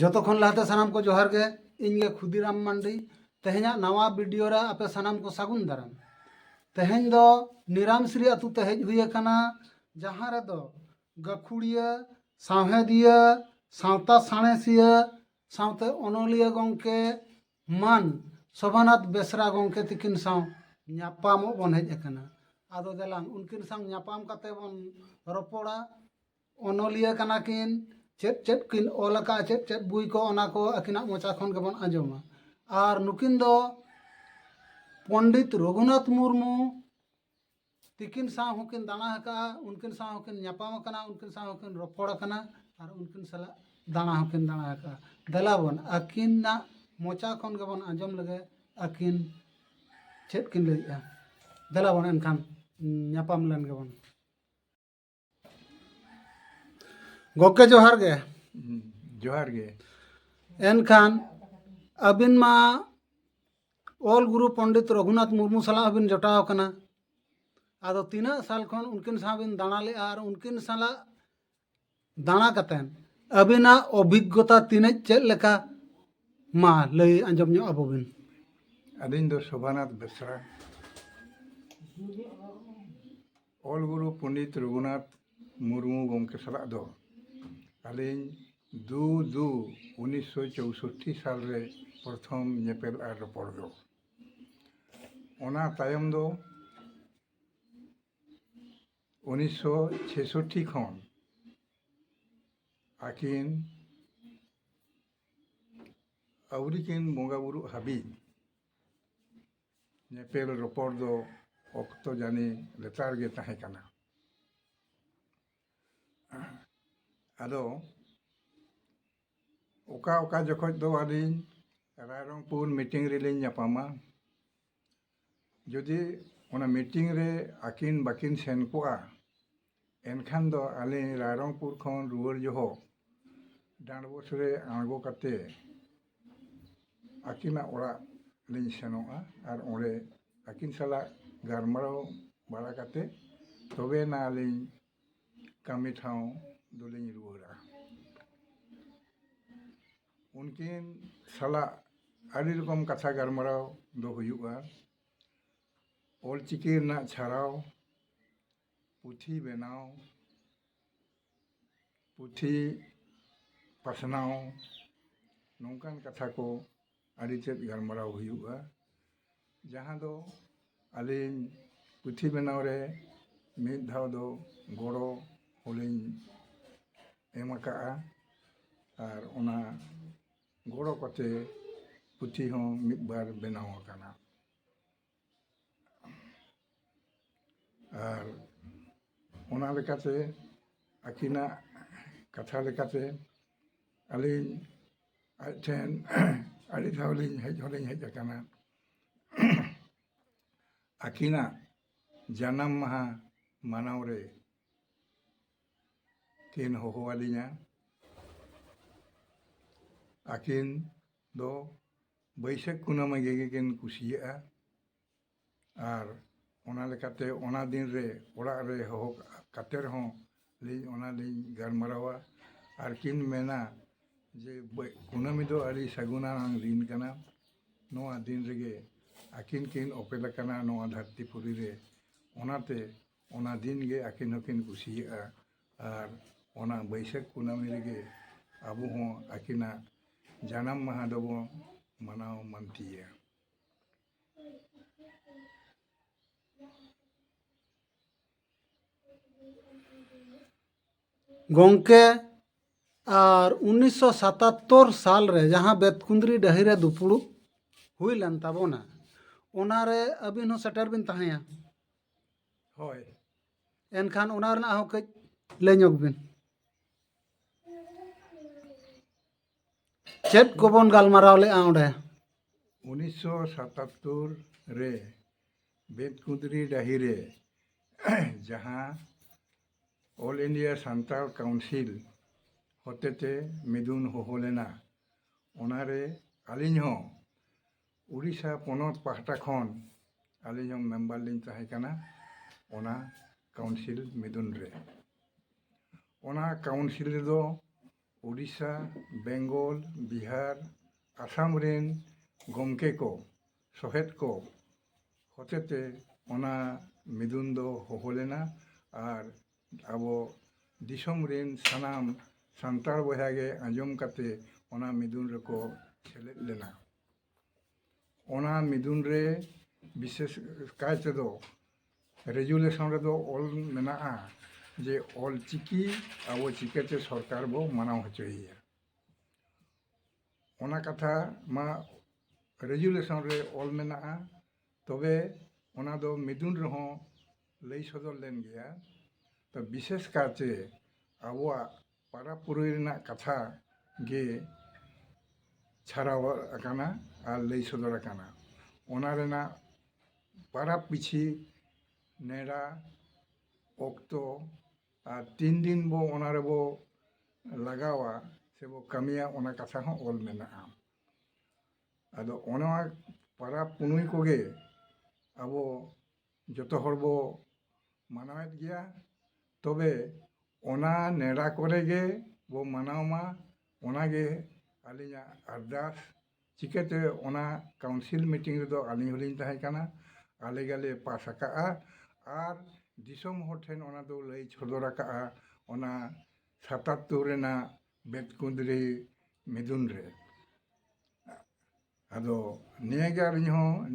ᱡᱚᱛᱚ ᱠᱷᱚᱱ ᱞᱟᱦᱟᱛᱮ ᱥᱟᱱᱟᱢ ᱠᱚ ᱡᱚᱦᱟᱨ ᱜᱮ ᱤᱧ ᱜᱮ ᱠᱷᱩᱫᱤᱨᱟᱢ ᱢᱟᱱᱰᱤ ᱛᱮᱦᱮᱧᱟᱜ ᱱᱟᱣᱟ ᱵᱷᱤᱰᱤᱭᱳ ᱨᱮ ᱟᱯᱮ ᱥᱟᱱᱟᱢ ᱠᱚ ᱥᱟᱹᱜᱩᱱ ᱫᱟᱨᱟᱢ ᱛᱮᱦᱮᱧ ᱫᱚ ᱱᱤᱨᱟᱢᱥᱨᱤ ᱟᱛᱳ ᱛᱮ ᱦᱮᱡ ᱦᱩᱭ ᱟᱠᱟᱱᱟ ᱡᱟᱦᱟᱸ ᱨᱮᱫᱚ ᱜᱟᱹᱠᱷᱩᱲᱤᱭᱟᱹ ᱥᱟᱶᱦᱮᱫᱤᱭᱟᱹ ᱥᱟᱶᱛᱟ ᱥᱟᱬᱮᱥᱤᱭᱟᱹ ᱥᱟᱶᱛᱮ ᱚᱱᱚᱞᱤᱭᱟᱹ ᱜᱚᱢᱠᱮ ᱢᱟᱱ ᱥᱚᱵᱷᱟᱱᱟᱛᱷ ᱵᱮᱥᱨᱟ ᱜᱚᱢᱠᱮ ᱛᱤᱠᱤᱱ ᱥᱟᱶ ᱧᱟᱯᱟᱢᱚᱜ ᱵᱚᱱ ᱦᱮᱡ ᱟᱠᱟᱱᱟ ᱟᱫᱚ ᱫᱮᱞᱟᱝ ᱩᱱᱠᱤᱱ ᱥᱟᱶ ᱧᱟᱯᱟᱢ ᱠᱟᱛᱮ ᱵᱚᱱ ᱨᱚᱯᱚᱲᱟ ᱚᱱᱚᱞᱤᱭᱟᱹ ᱠᱟᱱᱟ ᱠᱤᱱ ᱪᱮᱫ ᱪᱮᱫ ᱠᱤᱱ ᱚᱞ ᱟᱠᱟᱫᱼᱟ ᱪᱮᱫ ᱪᱮᱫ ᱵᱳᱭ ᱠᱚ ᱚᱱᱟ ᱠᱚ ᱟᱹᱠᱤᱱᱟᱜ ᱢᱚᱪᱟ ᱠᱷᱚᱱ ᱜᱮᱵᱚᱱ ᱟᱸᱡᱚᱢᱟ ᱟᱨ ᱱᱩᱠᱤᱱ ᱫᱚ ᱯᱚᱱᱰᱤᱛ ᱨᱚᱜᱷᱩᱱᱟᱛᱷ ᱢᱩᱨᱢᱩ ᱛᱤᱠᱤᱱ ᱥᱟᱶ ᱦᱚᱸᱠᱤᱱ ᱫᱟᱬᱟ ᱟᱠᱟᱫᱼᱟ ᱩᱱᱠᱤᱱ ᱥᱟᱶ ᱦᱚᱸᱠᱤᱱ ᱧᱟᱯᱟᱢ ᱟᱠᱟᱱᱟ ᱩᱱᱠᱤᱱ ᱥᱟᱶ ᱦᱚᱸᱠᱤᱱ ᱨᱚᱯᱚᱲ ᱟᱠᱟᱱᱟ ᱟᱨ ᱩᱱᱠᱤᱱ ᱥᱟᱞᱟᱜ ᱫᱟᱬᱟ ᱦᱚᱸᱠᱤᱱ ᱫᱟᱬᱟ ᱟᱠᱟᱫᱼᱟ ᱫᱮᱞᱟ ᱵᱚᱱ ᱟᱹᱠᱤᱱᱟᱜ ᱢᱚᱪᱟ ᱠᱷᱚᱱ ᱜᱮᱵᱚᱱ ᱟᱸᱡᱚᱢ ᱞᱮᱜᱮ ᱟᱹᱠᱤᱱ ᱪᱮᱫ ᱠᱤᱱ ᱞᱟᱹᱭᱮᱫᱼᱟ ᱫᱮᱞᱟ ᱵᱚᱱ ᱮᱱᱠᱷᱟᱱ ᱧᱟᱯᱟᱢ ᱞᱮᱱ ᱜᱮᱵᱚᱱ ᱜᱚᱢᱠᱮ ᱡᱚᱦᱟᱨ ᱜᱮ ᱡᱚᱦᱟᱨ ᱜᱮ ᱮᱱᱠᱷᱟᱱ ᱟᱹᱵᱤᱱ ᱢᱟ ᱚᱞ ᱜᱩᱨᱩ ᱯᱚᱱᱰᱤᱛ ᱨᱚᱜᱷᱩᱱᱟᱛᱷ ᱢᱩᱨᱢᱩ ᱥᱟᱞᱟᱜ ᱦᱚᱸᱵᱤᱱ ᱡᱚᱴᱟᱣ ᱟᱠᱟᱱᱟ ᱟᱫᱚ ᱛᱤᱱᱟᱹᱜ ᱥᱟᱞ ᱠᱷᱚᱱ ᱩᱱᱠᱤᱱ ᱥᱟᱶ ᱵᱤᱱ ᱫᱟᱬᱟ ᱞᱮᱫᱼᱟ ᱟᱨ ᱩᱱᱠᱤᱱ ᱥᱟᱞᱟᱜ ᱫᱟᱬᱟ ᱠᱟᱛᱮᱱ ᱟᱹᱵᱤᱱᱟᱜ ᱚᱵᱷᱤᱜᱽᱜᱚᱛᱟ ᱛᱤᱱᱟᱹᱜ ᱪᱮᱫ ᱞᱮᱠᱟ ᱢᱟ ᱞᱟᱹᱭ ᱟᱸᱡᱚᱢ ᱧᱚᱜ ᱟᱵᱚ ᱵᱤᱱ ᱟᱹᱞᱤᱧ ᱫᱚ ᱥᱳᱵᱷᱟᱱᱟᱛᱷ ᱵᱮᱥᱨᱟ ᱚᱞ ᱜᱩᱨᱩ ᱯᱚᱱᱰᱤᱛ ᱨᱚᱜᱷᱩᱱᱟᱛᱷ ᱢᱩᱨᱢᱩ ᱜᱚᱢᱠᱮ ᱥᱟᱞᱟᱜ ᱫᱚ ᱟᱹᱞᱤᱧ ᱫᱩ ᱫᱩ ᱩᱱᱤᱥᱥᱚ ᱪᱳᱣᱥᱳᱴᱴᱤ ᱥᱟᱞ ᱨᱮ ᱯᱨᱚᱛᱷᱚᱢ ᱧᱮᱯᱮᱞ ᱟᱨ ᱨᱚᱯᱚᱲ ᱫᱚ ᱚᱱᱟ ᱛᱟᱭᱚᱢ ᱫᱚ ᱩᱱᱤᱥᱥᱚ ᱪᱷᱮᱥᱳᱴᱴᱤ ᱠᱷᱚᱱ ᱟᱹᱠᱤᱱ ᱟᱹᱣᱨᱤ ᱠᱤᱱ ᱵᱚᱸᱜᱟᱼᱵᱩᱨᱩᱜ ᱦᱟᱹᱵᱤᱡ ᱧᱮᱯᱮᱞ ᱨᱚᱯᱚᱲ ᱫᱚ ᱚᱠᱛᱚ ᱡᱟᱹᱱᱤ ᱞᱮᱛᱟᱲ ᱜᱮ ᱛᱟᱦᱮᱸ ᱠᱟᱱᱟ ᱟᱫᱚ ᱚᱠᱟ ᱚᱠᱟ ᱡᱚᱠᱷᱚᱡ ᱫᱚ ᱟᱹᱞᱤᱧ ᱨᱟᱭᱨᱚᱝᱯᱩᱨ ᱢᱤᱴᱤᱝ ᱨᱮᱞᱤᱧ ᱧᱟᱯᱟᱢᱟ ᱡᱩᱫᱤ ᱚᱱᱟ ᱢᱤᱴᱤᱝ ᱨᱮ ᱟᱹᱠᱤᱱ ᱵᱟᱹᱠᱤᱱ ᱥᱮᱱ ᱠᱚᱜᱼᱟ ᱮᱱᱠᱷᱟᱱ ᱫᱚ ᱟᱞᱮ ᱨᱟᱭᱨᱚᱝᱯᱩᱨ ᱠᱷᱚᱱ ᱨᱩᱣᱟᱹᱲ ᱡᱚᱦᱚᱜ ᱰᱟᱸᱰᱵᱚᱥ ᱨᱮ ᱟᱬᱜᱚ ᱠᱟᱛᱮ ᱟᱹᱠᱤᱱᱟᱜ ᱚᱲᱟᱜ ᱞᱤᱧ ᱥᱮᱱᱚᱜᱼᱟ ᱟᱨ ᱚᱸᱰᱮ ᱟᱹᱠᱤᱱ ᱥᱟᱞᱟᱜ ᱜᱟᱞᱢᱟᱨᱟᱣ ᱵᱟᱲᱟ ᱠᱟᱛᱮ ᱛᱚᱵᱮ ᱟᱱᱟᱜ ᱟᱹᱞᱤᱧ ᱠᱟᱹᱢᱤ ᱴᱷᱟᱶ ᱫᱚᱞᱤᱧ ᱨᱩᱣᱟᱹᱲᱟ ᱩᱱᱠᱤᱱ ᱥᱟᱞᱟᱜ ᱟᱹᱰᱤ ᱨᱚᱠᱚᱢ ᱠᱟᱛᱷᱟ ᱜᱟᱞᱢᱟᱨᱟᱣ ᱫᱚ ᱦᱩᱭᱩᱜᱼᱟ ᱚᱞᱪᱤᱠᱤ ᱨᱮᱱᱟᱜ ᱪᱷᱟᱨᱟᱣ ᱯᱩᱛᱷᱤ ᱵᱮᱱᱟᱣ ᱯᱩᱛᱷᱤ ᱯᱟᱥᱱᱟᱣ ᱱᱚᱝᱠᱟᱱ ᱠᱟᱛᱷᱟ ᱠᱚ ᱟᱹᱰᱤ ᱛᱮᱫ ᱜᱟᱞᱢᱟᱨᱟᱣ ᱦᱩᱭᱩᱜᱼᱟ ᱡᱟᱦᱟᱸ ᱫᱚ ᱟᱹᱞᱤᱧ ᱯᱩᱛᱷᱤ ᱵᱮᱱᱟᱣ ᱨᱮ ᱢᱤᱫ ᱫᱷᱟᱣ ᱫᱚ ᱜᱚᱲᱚ ᱦᱚᱸᱞᱤᱧ ᱮᱢ ᱟᱠᱟᱫᱼᱟ ᱟᱨ ᱚᱱᱟ ᱜᱚᱲᱚ ᱠᱟᱛᱮᱫ ᱯᱩᱛᱷᱤ ᱦᱚᱸ ᱢᱤᱫ ᱵᱟᱨ ᱵᱮᱱᱟᱣ ᱟᱠᱟᱱᱟ ᱟᱨ ᱚᱱᱟ ᱞᱮᱠᱟᱛᱮ ᱟᱹᱠᱤᱱᱟᱜ ᱠᱟᱛᱷᱟ ᱞᱮᱠᱟᱛᱮ ᱟᱹᱞᱤᱧ ᱟᱡ ᱴᱷᱮᱱ ᱟᱹᱰᱤ ᱫᱷᱟᱣ ᱞᱤᱧ ᱦᱮᱡ ᱦᱚᱸ ᱞᱤᱧ ᱦᱮᱡ ᱟᱠᱟᱱᱟ ᱟᱹᱠᱤᱱᱟᱜ ᱡᱟᱱᱟᱢ ᱢᱟᱦᱟ ᱢᱟᱱᱟᱣ ᱨᱮ ᱠᱤᱱ ᱦᱚᱦᱚ ᱟᱹᱞᱤᱧᱟ ᱟᱹᱠᱤᱱ ᱫᱚ ᱵᱟᱹᱭᱥᱟᱹᱠᱷ ᱠᱩᱱᱟᱹᱢᱤ ᱜᱮᱠᱤᱱ ᱠᱩᱥᱤᱭᱟᱜᱼᱟ ᱟᱨ ᱚᱱᱟ ᱞᱮᱠᱟᱛᱮ ᱚᱱᱟ ᱫᱤᱱ ᱨᱮ ᱚᱲᱟᱜ ᱨᱮ ᱦᱚᱦᱚ ᱠᱟᱛᱮ ᱨᱮᱦᱚᱸ ᱞᱤᱧ ᱚᱱᱟ ᱞᱤᱧ ᱜᱟᱞᱢᱟᱨᱟᱣᱟ ᱟᱨ ᱠᱤᱱ ᱢᱮᱱᱟ ᱡᱮ ᱠᱩᱱᱟᱹᱢᱤ ᱫᱚ ᱟᱹᱰᱤ ᱥᱟᱹᱜᱩᱱᱟᱱᱟᱝ ᱫᱤᱱ ᱠᱟᱱᱟ ᱱᱚᱣᱟ ᱫᱤᱱ ᱨᱮᱜᱮ ᱟᱹᱠᱤᱱ ᱠᱤᱱ ᱚᱯᱮᱞ ᱟᱠᱟᱱᱟ ᱱᱚᱣᱟ ᱫᱷᱟᱹᱨᱛᱤ ᱯᱩᱨᱤ ᱨᱮ ᱚᱱᱟᱛᱮ ᱚᱱᱟ ᱫᱤᱱ ᱜᱮ ᱟᱹᱠᱤᱱ ᱦᱚᱸᱠᱤᱱ ᱠᱩᱥᱤᱭᱟᱜᱼᱟ ᱟᱨ ᱚᱱᱟ ᱵᱟᱹᱭᱥᱟᱹᱠᱷ ᱠᱩᱱᱟᱹᱢᱤ ᱨᱮᱜᱮ ᱟᱵᱚ ᱦᱚᱸ ᱟᱹᱠᱤᱱᱟᱜ ᱡᱟᱱᱟᱢ ᱢᱟᱦᱟ ᱫᱚᱵᱚᱱ ᱢᱟᱱᱟᱣ ᱢᱟᱱᱛᱤᱭᱟ ᱜᱚᱝᱠᱮ ᱟᱨ ᱩᱱᱤᱥᱥᱚ ᱥᱟᱛᱟᱛᱛᱳᱨ ᱥᱟᱞ ᱨᱮ ᱡᱟᱦᱟᱸ ᱵᱮᱛᱠᱩᱸᱫᱽᱨᱤ ᱰᱟᱹᱦᱤ ᱨᱮ ᱫᱩᱯᱩᱲᱩᱵ ᱦᱩᱭ ᱞᱮᱱ ᱛᱟᱵᱚᱱᱟ ᱚᱱᱟ ᱨᱮ ᱟᱹᱵᱤᱱ ᱦᱚᱸ ᱥᱮᱴᱮᱨ ᱵᱤᱱ ᱛᱟᱦᱮᱸᱭᱟ ᱦᱳᱭ ᱮᱱᱠᱷᱟᱱ ᱚᱱᱟ ᱨᱮᱱᱟᱜ ᱦᱚᱸ ᱠᱟᱹᱡ ᱞᱟᱹᱭ ᱧᱚᱜᱽ ᱵᱤᱱ ᱪᱮᱫ ᱠᱚᱵᱚᱱ ᱜᱟᱞᱢᱟᱨᱟᱣ ᱞᱮᱫᱼᱟ ᱚᱸᱰᱮ ᱩᱱᱤᱥᱥᱚ ᱥᱟᱛᱟᱛᱛᱳᱨ ᱨᱮ ᱵᱮᱫᱠᱩᱸᱫᱽᱨᱤ ᱰᱟᱹᱦᱤ ᱨᱮ ᱡᱟᱦᱟᱸ ᱚᱞ ᱤᱱᱰᱤᱭᱟ ᱥᱟᱱᱛᱟᱲ ᱠᱟᱣᱩᱱᱥᱤᱞ ᱦᱚᱛᱮᱛᱮ ᱢᱤᱫᱩᱱ ᱦᱚᱦᱚ ᱞᱮᱱᱟ ᱚᱱᱟᱨᱮ ᱟᱹᱞᱤᱧ ᱦᱚᱸ ᱩᱰᱤᱥᱟ ᱯᱚᱱᱚᱛ ᱯᱟᱦᱴᱟ ᱠᱷᱚᱱ ᱟᱹᱞᱤᱧ ᱦᱚᱸ ᱢᱮᱢᱵᱟᱨ ᱞᱤᱧ ᱛᱟᱦᱮᱸ ᱠᱟᱱᱟ ᱚᱱᱟ ᱠᱟᱣᱩᱱᱥᱤᱞ ᱢᱤᱫᱩᱱ ᱨᱮ ᱚᱱᱟ ᱠᱟᱣᱩᱱᱥᱤᱞ ᱨᱮᱫᱚ ᱩᱰᱤᱥᱟ ᱵᱮᱝᱜᱚᱞ ᱵᱤᱦᱟᱨ ᱟᱥᱟᱢ ᱨᱮᱱ ᱜᱚᱢᱠᱮ ᱠᱚ ᱥᱚᱦᱮᱫ ᱠᱚ ᱦᱚᱛᱮᱛᱮ ᱚᱱᱟ ᱢᱤᱫᱩᱱ ᱫᱚ ᱦᱚᱦᱚ ᱞᱮᱱᱟ ᱟᱨ ᱟᱵᱚ ᱫᱤᱥᱚᱢ ᱨᱮᱱ ᱥᱟᱱᱟᱢ ᱥᱟᱱᱛᱟᱲ ᱵᱚᱭᱦᱟ ᱜᱮ ᱟᱸᱡᱚᱢ ᱠᱟᱛᱮ ᱚᱱᱟ ᱢᱤᱫᱩᱱ ᱨᱮᱠᱚ ᱥᱮᱞᱮᱫ ᱞᱮᱱᱟ ᱚᱱᱟ ᱢᱤᱫᱩᱱ ᱨᱮ ᱵᱤᱥᱮᱥ ᱠᱟᱭ ᱛᱮᱫᱚ ᱨᱮᱡᱩᱞᱮᱥᱚᱱ ᱨᱮᱫᱚ ᱚᱞ ᱢᱮᱱᱟᱜᱼᱟ ᱡᱮ ᱚᱞ ᱪᱤᱠᱤ ᱟᱵᱚ ᱪᱤᱠᱟᱹᱛᱮ ᱥᱚᱨᱠᱟᱨ ᱵᱚ ᱢᱟᱱᱟᱣ ᱦᱚᱪᱚᱭᱮᱭᱟ ᱚᱱᱟ ᱠᱟᱛᱷᱟ ᱢᱟ ᱨᱮᱡᱩᱞᱮᱥᱚᱱ ᱨᱮ ᱚᱞ ᱢᱮᱱᱟᱜᱼᱟ ᱛᱚᱵᱮ ᱚᱱᱟ ᱫᱚ ᱢᱤᱫᱩᱱ ᱨᱮᱦᱚᱸ ᱞᱟᱹᱭ ᱥᱚᱫᱚᱨ ᱞᱮᱱ ᱜᱮᱭᱟ ᱛᱚ ᱵᱤᱥᱮᱥ ᱠᱟᱭᱛᱮ ᱟᱵᱚᱣᱟᱜ ᱯᱟᱨᱟᱵᱽ ᱯᱩᱨᱟᱹᱭ ᱨᱮᱱᱟᱜ ᱠᱟᱛᱷᱟ ᱜᱮ ᱪᱷᱟᱨᱟᱣ ᱟᱠᱟᱱᱟ ᱟᱨ ᱞᱟᱹᱭ ᱥᱚᱫᱚᱨ ᱟᱠᱟᱱᱟ ᱚᱱᱟ ᱨᱮᱱᱟᱜ ᱯᱟᱨᱟᱵᱽ ᱯᱤᱪᱷᱤ ᱱᱮᱰᱟ ᱚᱠᱛᱚ ᱟᱨ ᱛᱤᱱ ᱫᱤᱱ ᱵᱚ ᱚᱱᱟ ᱨᱮᱵᱚ ᱞᱟᱜᱟᱣᱟ ᱥᱮ ᱵᱚ ᱠᱟᱹᱢᱤᱭᱟ ᱚᱱᱟ ᱠᱟᱛᱷᱟ ᱦᱚᱸ ᱚᱞ ᱢᱮᱱᱟᱜᱼᱟ ᱟᱫᱚ ᱚᱱᱟ ᱯᱟᱨᱟᱵᱽ ᱯᱩᱱᱟᱹᱭ ᱠᱚᱜᱮ ᱟᱵᱚ ᱡᱚᱛᱚ ᱦᱚᱲ ᱵᱚ ᱢᱟᱱᱟᱣᱮᱫ ᱜᱮᱭᱟ ᱛᱚᱵᱮ ᱚᱱᱟ ᱱᱮᱰᱟ ᱠᱚᱨᱮ ᱜᱮ ᱵᱚ ᱢᱟᱱᱟᱣ ᱢᱟ ᱚᱱᱟ ᱜᱮ ᱟᱹᱞᱤᱧᱟᱜ ᱟᱨᱫᱟᱥ ᱪᱤᱠᱟᱹᱛᱮ ᱚᱱᱟ ᱠᱟᱣᱩᱱᱥᱤᱞ ᱢᱤᱴᱤᱝ ᱨᱮᱫᱚ ᱟᱹᱞᱤᱧ ᱦᱚᱸᱞᱤᱧ ᱛᱟᱦᱮᱸ ᱠᱟᱱᱟ ᱟᱞᱮ ᱜᱮᱞᱮ ᱯᱟᱥ ᱟᱠᱟᱫᱼᱟ ᱟᱨ ᱫᱤᱥᱚᱢ ᱦᱚᱲ ᱴᱷᱮᱱ ᱚᱱᱟ ᱫᱚ ᱞᱟᱹᱭ ᱥᱚᱫᱚᱨ ᱟᱠᱟᱫᱼᱟ ᱚᱱᱟ ᱥᱟᱛᱟᱛᱛᱳᱨ ᱨᱮᱱᱟᱜ ᱵᱮᱛᱠᱩᱸᱫᱽᱨᱤ ᱢᱤᱫᱩᱱ ᱨᱮ ᱟᱫᱚ ᱱᱤᱭᱟᱹᱜᱮ ᱟᱹᱞᱤᱧ ᱦᱚᱸ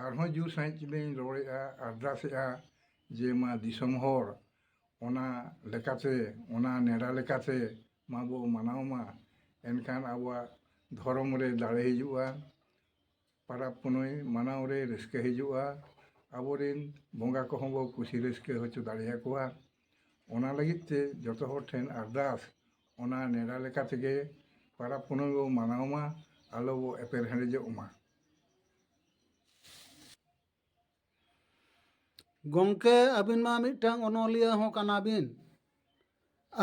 ᱟᱨᱦᱚᱸ ᱡᱳᱨ ᱥᱟᱺᱦᱤᱡ ᱞᱤᱧ ᱨᱚᱲᱮᱫᱼᱟ ᱟᱨᱫᱟᱥᱮᱫᱼᱟ ᱡᱮ ᱢᱟ ᱫᱤᱥᱚᱢ ᱦᱚᱲ ᱚᱱᱟ ᱞᱮᱠᱟᱛᱮ ᱚᱱᱟ ᱱᱮᱰᱟ ᱞᱮᱠᱟᱛᱮ ᱢᱟᱵᱚ ᱢᱟᱱᱟᱣ ᱢᱟ ᱮᱱᱠᱷᱟᱱ ᱟᱵᱚᱣᱟᱜ ᱫᱷᱚᱨᱚᱢ ᱨᱮ ᱫᱟᱲᱮ ᱦᱤᱡᱩᱜᱼᱟ ᱯᱚᱨᱚᱵᱽ ᱯᱩᱱᱟᱹᱭ ᱢᱟᱱᱟᱣ ᱨᱮ ᱨᱟᱹᱥᱠᱟᱹ ᱦᱤᱡᱩᱜᱼᱟ ᱟᱵᱚᱨᱮᱱ ᱵᱚᱸᱜᱟ ᱠᱚᱦᱚᱸ ᱵᱚ ᱠᱩᱥᱤ ᱨᱟᱹᱥᱠᱟᱹ ᱦᱚᱪᱚ ᱫᱟᱲᱮ ᱟᱠᱚᱣᱟ ᱚᱱᱟ ᱞᱟᱹᱜᱤᱫ ᱛᱮ ᱡᱚᱛᱚ ᱦᱚᱲ ᱴᱷᱮᱱ ᱟᱨᱫᱟᱥ ᱚᱱᱟ ᱱᱮᱰᱟ ᱞᱮᱠᱟ ᱛᱮᱜᱮ ᱯᱟᱨᱟᱵᱽ ᱯᱩᱱᱟᱹᱭ ᱵᱚᱱ ᱢᱟᱱᱟᱣ ᱢᱟ ᱟᱞᱚ ᱵᱚ ᱮᱯᱮᱨ ᱦᱮᱰᱮᱡᱚᱜ ᱢᱟ ᱜᱚᱢᱠᱮ ᱟᱹᱵᱤᱱ ᱢᱟ ᱢᱤᱫᱴᱟᱝ ᱚᱱᱚᱞᱤᱭᱟᱹ ᱦᱚᱸ ᱠᱟᱱᱟ ᱵᱤᱱ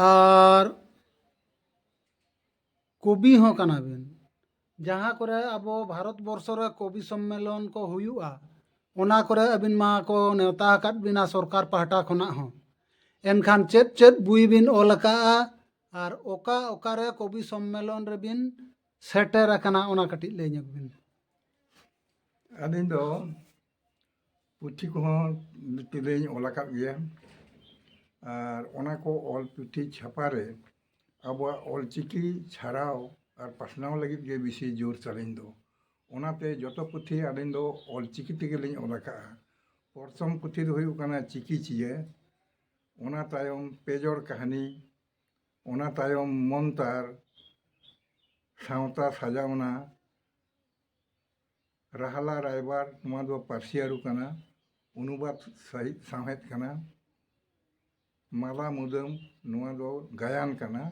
ᱟᱨ ᱠᱚᱵᱤ ᱦᱚᱸ ᱠᱟᱱᱟ ᱵᱤᱱ ᱡᱟᱦᱟᱸ ᱠᱚᱨᱮ ᱟᱵᱚ ᱵᱷᱟᱨᱚᱛ ᱵᱚᱨᱥᱚ ᱨᱮ ᱠᱚᱵᱤ ᱥᱚᱢᱢᱮᱞᱚᱱ ᱠᱚ ᱦᱩᱭᱩᱜᱼᱟ ᱚᱱᱟ ᱠᱚᱨᱮ ᱟᱹᱵᱤᱱ ᱢᱟ ᱠᱚ ᱱᱮᱣᱛᱟ ᱟᱠᱟᱫ ᱵᱤᱱᱟ ᱥᱚᱨᱠᱟᱨ ᱯᱟᱦᱴᱟ ᱠᱷᱚᱱᱟᱜ ᱦᱚᱸ ᱮᱱᱠᱷᱟᱱ ᱪᱮᱫ ᱪᱮᱫ ᱵᱳᱭ ᱵᱤᱱ ᱚᱞ ᱟᱠᱟᱫᱼᱟ ᱟᱨ ᱚᱠᱟ ᱚᱠᱟ ᱨᱮ ᱠᱚᱵᱤ ᱥᱚᱢᱢᱮᱞᱚᱱ ᱨᱮᱵᱤᱱ ᱥᱮᱴᱮᱨ ᱟᱠᱟᱱᱟ ᱚᱱᱟ ᱠᱟᱹᱴᱤᱡ ᱞᱟᱹᱭ ᱧᱚᱜᱽ ᱵᱤᱱ ᱟᱹᱞᱤᱧ ᱫᱚ ᱯᱩᱛᱷᱤ ᱠᱚᱦᱚᱸ ᱵᱤᱥᱛᱤ ᱫᱚᱧ ᱚᱞ ᱟᱠᱟᱫ ᱜᱮᱭᱟ ᱟᱨ ᱚᱱᱟ ᱠᱚ ᱚᱞ ᱯᱩᱛᱷᱤ ᱪᱷᱟᱯᱟ ᱨᱮ ᱟᱵᱚᱣᱟᱜ ᱚᱞ ᱪᱤᱠᱤ ᱪᱷᱟᱨᱟᱣ ᱟᱨ ᱯᱟᱥᱱᱟᱣ ᱞᱟᱹᱜᱤᱫ ᱜᱮ ᱵᱤᱥᱤ ᱡᱳᱨ ᱛᱟᱹᱞᱤᱧ ᱫᱚ ᱚᱱᱟᱛᱮ ᱡᱚᱛᱚ ᱯᱩᱛᱷᱤ ᱟᱹᱞᱤᱧ ᱫᱚ ᱚᱞ ᱪᱤᱠᱤ ᱛᱮᱜᱮ ᱞᱤᱧ ᱚᱞ ᱟᱠᱟᱫᱼᱟ ᱯᱨᱚᱛᱷᱚᱢ ᱯᱩᱛᱷᱤ ᱫᱚ ᱦᱩᱭᱩᱜ ᱠᱟᱱᱟ ᱪᱤᱠᱤ ᱪᱤᱭᱟᱹ ᱚᱱᱟ ᱛᱟᱭᱚᱢ ᱯᱮ ᱡᱚᱲ ᱠᱟᱹᱦᱱᱤ ᱚᱱᱟ ᱛᱟᱭᱚᱢ ᱢᱚᱱᱛᱟᱨ ᱥᱟᱶᱛᱟ ᱥᱟᱡᱟᱣᱱᱟ ᱨᱟᱦᱞᱟ ᱨᱟᱭᱵᱟᱨ ᱱᱚᱣᱟ ᱫᱚ ᱯᱟᱹᱨᱥᱤ ᱟᱹᱨᱩ ᱠᱟᱱᱟ ᱚᱱᱩᱵᱟᱫᱽ ᱥᱟᱹᱦᱤᱡ ᱥᱟᱶᱦᱮᱫ ᱠᱟᱱᱟ ᱢᱟᱞᱟ ᱢᱩᱫᱟᱹᱢ ᱱᱚᱣᱟ ᱫᱚ ᱜᱟᱭᱟᱱ ᱠᱟᱱᱟ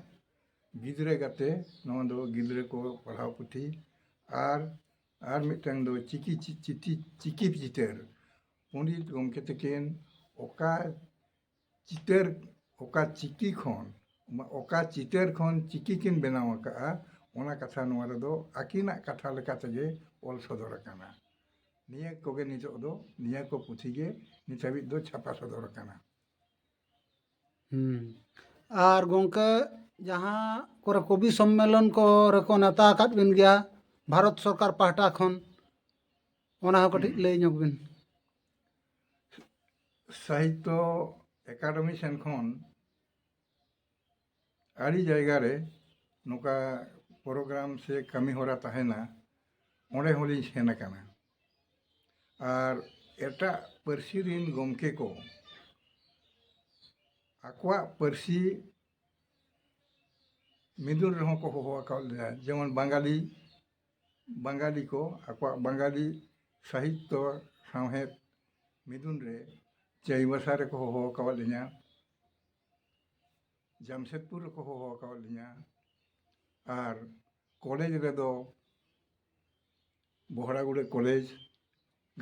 ᱜᱤᱫᱽᱨᱟᱹ ᱜᱟᱛᱮ ᱱᱚᱣᱟ ᱫᱚ ᱜᱤᱫᱽᱨᱟᱹ ᱠᱚ ᱯᱟᱲᱦᱟᱣ ᱯᱩᱛᱷᱤ ᱟᱨ ᱟᱨ ᱢᱤᱫᱴᱟᱝ ᱫᱚ ᱪᱤᱠᱤ ᱪᱤᱠᱤ ᱪᱤᱛᱟᱹᱨ ᱯᱚᱱᱰᱤᱛ ᱜᱚᱢᱠᱮ ᱛᱟᱹᱠᱤᱱ ᱚᱠᱟ ᱪᱤᱛᱟᱹᱨ ᱚᱠᱟ ᱪᱤᱠᱤ ᱠᱷᱚᱱ ᱚᱠᱟ ᱪᱤᱛᱟᱹᱨ ᱠᱷᱚᱱ ᱪᱤᱠᱤ ᱠᱤᱱ ᱵᱮᱱᱟᱣ ᱟᱠᱟᱫᱼᱟ ᱚᱱᱟ ᱠᱟᱛᱷᱟ ᱱᱚᱣᱟ ᱨᱮᱫᱚ ᱟᱹᱠᱤᱱᱟᱜ ᱠᱟᱛᱷᱟ ᱞᱮᱠᱟ ᱛᱮᱜᱮ ᱚᱞ ᱥᱚᱫᱚᱨ ᱟᱠᱟᱱᱟ ᱱᱤᱭᱟᱹ ᱠᱚᱜᱮ ᱱᱤᱛᱚᱜ ᱫᱚ ᱱᱤᱭᱟᱹ ᱠᱚ ᱯᱩᱛᱷᱤ ᱜᱮ ᱱᱤᱛ ᱦᱟᱹᱵᱤᱡ ᱫᱚ ᱪᱷᱟᱯᱟ ᱥᱚᱫᱚᱨ ᱟᱠᱟᱱᱟ ᱟᱨ ᱜᱚᱢᱠᱮ ᱡᱟᱦᱟᱸ ᱠᱚᱨᱮ ᱠᱚᱵᱤ ᱥᱚᱢᱢᱮᱞᱚᱱ ᱠᱚᱨᱮ ᱠᱚ ᱱᱮᱣᱛᱟ ᱟᱠᱟᱫ ᱵᱤᱱ ᱜᱮᱭᱟ ᱵᱷᱟᱨᱚᱛ ᱥᱚᱨᱠᱟᱨ ᱯᱟᱦᱴᱟ ᱠᱷᱚᱱ ᱚᱱᱟ ᱦᱚᱸ ᱠᱟᱹᱴᱤᱡ ᱞᱟᱹᱭ ᱧᱚᱜᱽ ᱵᱤᱱ ᱥᱟᱦᱤᱛᱛᱚ ᱮᱠᱟᱰᱮᱢᱤ ᱥᱮᱱ ᱠᱷᱚᱱ ᱟᱹᱰᱤ ᱡᱟᱭᱜᱟ ᱨᱮ ᱱᱚᱝᱠᱟ ᱯᱨᱳᱜᱨᱟᱢ ᱥᱮ ᱠᱟᱹᱢᱤ ᱦᱚᱨᱟ ᱛᱟᱦᱮᱱᱟ ᱚᱸᱰᱮ ᱦᱚᱸᱞᱤᱧ ᱥᱮᱱ ᱟᱠᱟᱱᱟ ᱟᱨ ᱮᱴᱟᱜ ᱯᱟᱹᱨᱥᱤ ᱨᱤᱱ ᱜᱚᱢᱠᱮ ᱠᱚ ᱟᱠᱚᱣᱟᱜ ᱯᱟᱹᱨᱥᱤ ᱢᱤᱫᱩᱱ ᱨᱮᱦᱚᱸ ᱠᱚ ᱦᱚᱦᱚ ᱟᱠᱟᱫ ᱞᱮᱭᱟ ᱡᱮᱢᱚᱱ ᱵᱟᱝᱜᱟᱞᱤ ᱵᱟᱝᱜᱟᱞᱤ ᱠᱚ ᱟᱠᱚᱣᱟᱜ ᱵᱟᱝᱜᱟᱞᱤ ᱥᱟᱦᱤᱛᱛᱚ ᱥᱟᱶᱦᱮᱫ ᱢᱤᱫᱩᱱ ᱨᱮ ᱪᱟᱹᱭᱵᱟᱥᱟ ᱨᱮᱠᱚ ᱦᱚᱦᱚ ᱟᱠᱟᱫ ᱞᱤᱧᱟᱹ ᱡᱟᱢᱥᱮᱫᱽᱯᱩᱨ ᱨᱮᱠᱚ ᱦᱚᱦᱚ ᱟᱠᱟᱫ ᱞᱤᱧᱟᱹ ᱟᱨ ᱠᱚᱞᱮᱡᱽ ᱨᱮᱫᱚ ᱵᱚᱦᱲᱟᱜᱩᱲᱟᱹ ᱠᱚᱞᱮᱡᱽ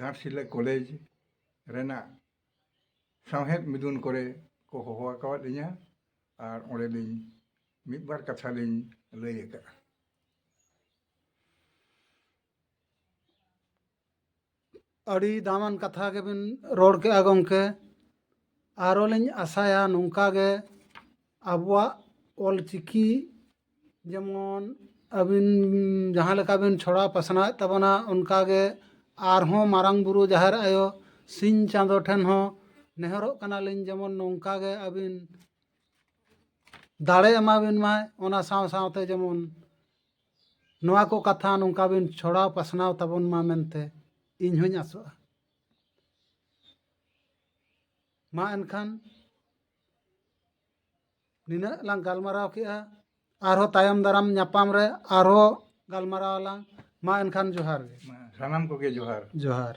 ᱜᱷᱟᱴᱥᱤᱞᱟᱹ ᱠᱚᱞᱮᱡᱽ ᱨᱮᱱᱟᱜ ᱥᱟᱶᱦᱮᱫ ᱢᱤᱫᱩᱱ ᱠᱚᱨᱮ ᱠᱚ ᱦᱚᱦᱚ ᱟᱠᱟᱫ ᱞᱤᱧᱟᱹ ᱟᱨ ᱚᱸᱰᱮ ᱞᱤᱧ ᱢᱤᱫ ᱵᱟᱨ ᱠᱟᱛᱷᱟ ᱞᱤᱧ ᱞᱟᱹᱭ ᱟᱠᱟᱫᱼᱟ ᱟᱹᱰᱤ ᱫᱟᱢᱟᱱ ᱠᱟᱛᱷᱟ ᱜᱮᱵᱤᱱ ᱨᱚᱲ ᱠᱮᱜᱼᱟ ᱜᱚᱢᱠᱮ ᱟᱨᱚ ᱞᱤᱧ ᱟᱥᱟᱭᱟ ᱱᱚᱝᱠᱟ ᱜᱮ ᱟᱵᱚᱣᱟᱜ ᱚᱞ ᱪᱤᱠᱤ ᱡᱮᱢᱚᱱ ᱟᱹᱵᱤᱱ ᱡᱟᱦᱟᱸ ᱞᱮᱠᱟ ᱵᱤᱱ ᱪᱷᱚᱲᱟᱣ ᱯᱟᱥᱱᱟᱣᱮᱫ ᱛᱟᱵᱚᱱᱟ ᱚᱱᱠᱟ ᱜᱮ ᱟᱨᱦᱚᱸ ᱢᱟᱨᱟᱝ ᱵᱩᱨᱩ ᱡᱟᱦᱮᱨ ᱟᱭᱳ ᱥᱤᱧ ᱪᱟᱸᱫᱚ ᱴᱷᱮᱱ ᱦᱚᱸ ᱱᱮᱦᱚᱨᱚᱜ ᱠᱟᱱᱟᱞᱤᱧ ᱡᱮᱢᱚᱱ ᱱᱚᱝᱠᱟ ᱜᱮ ᱟᱹᱵᱤᱱ ᱫᱟᱲᱮ ᱮᱢᱟ ᱵᱤᱱ ᱢᱟᱭ ᱚᱱᱟ ᱥᱟᱶ ᱥᱟᱶᱛᱮ ᱡᱮᱢᱚᱱ ᱱᱚᱣᱟ ᱠᱚ ᱠᱟᱛᱷᱟ ᱱᱚᱝᱠᱟ ᱵᱤᱱ ᱪᱷᱚᱲᱟᱣ ᱯᱟᱥᱱᱟᱣ ᱛᱟᱵᱚᱱ ᱢᱟ ᱢᱮᱱᱛᱮ ᱤᱧ ᱦᱚᱸᱧ ᱟᱥᱚᱜᱼᱟ ᱢᱟ ᱮᱱᱠᱷᱟᱱ ᱱᱤᱱᱟᱹᱜ ᱞᱟᱝ ᱜᱟᱞᱢᱟᱨᱟᱣ ᱠᱮᱜᱼᱟ ᱟᱨᱦᱚᱸ ᱛᱟᱭᱚᱢ ᱫᱟᱨᱟᱢ ᱧᱟᱯᱟᱢ ᱨᱮ ᱟᱨᱦᱚᱸ ᱜᱟᱞᱢᱟᱨᱟᱣ ᱟᱞᱟᱝ ᱢᱟ ᱮᱱᱠᱷᱟᱱ ᱡᱚᱦᱟᱨ ᱜᱮ ᱥᱟᱱᱟᱢ ᱠᱚᱜᱮ ᱡᱚᱦᱟᱨ ᱡᱚᱦᱟᱨ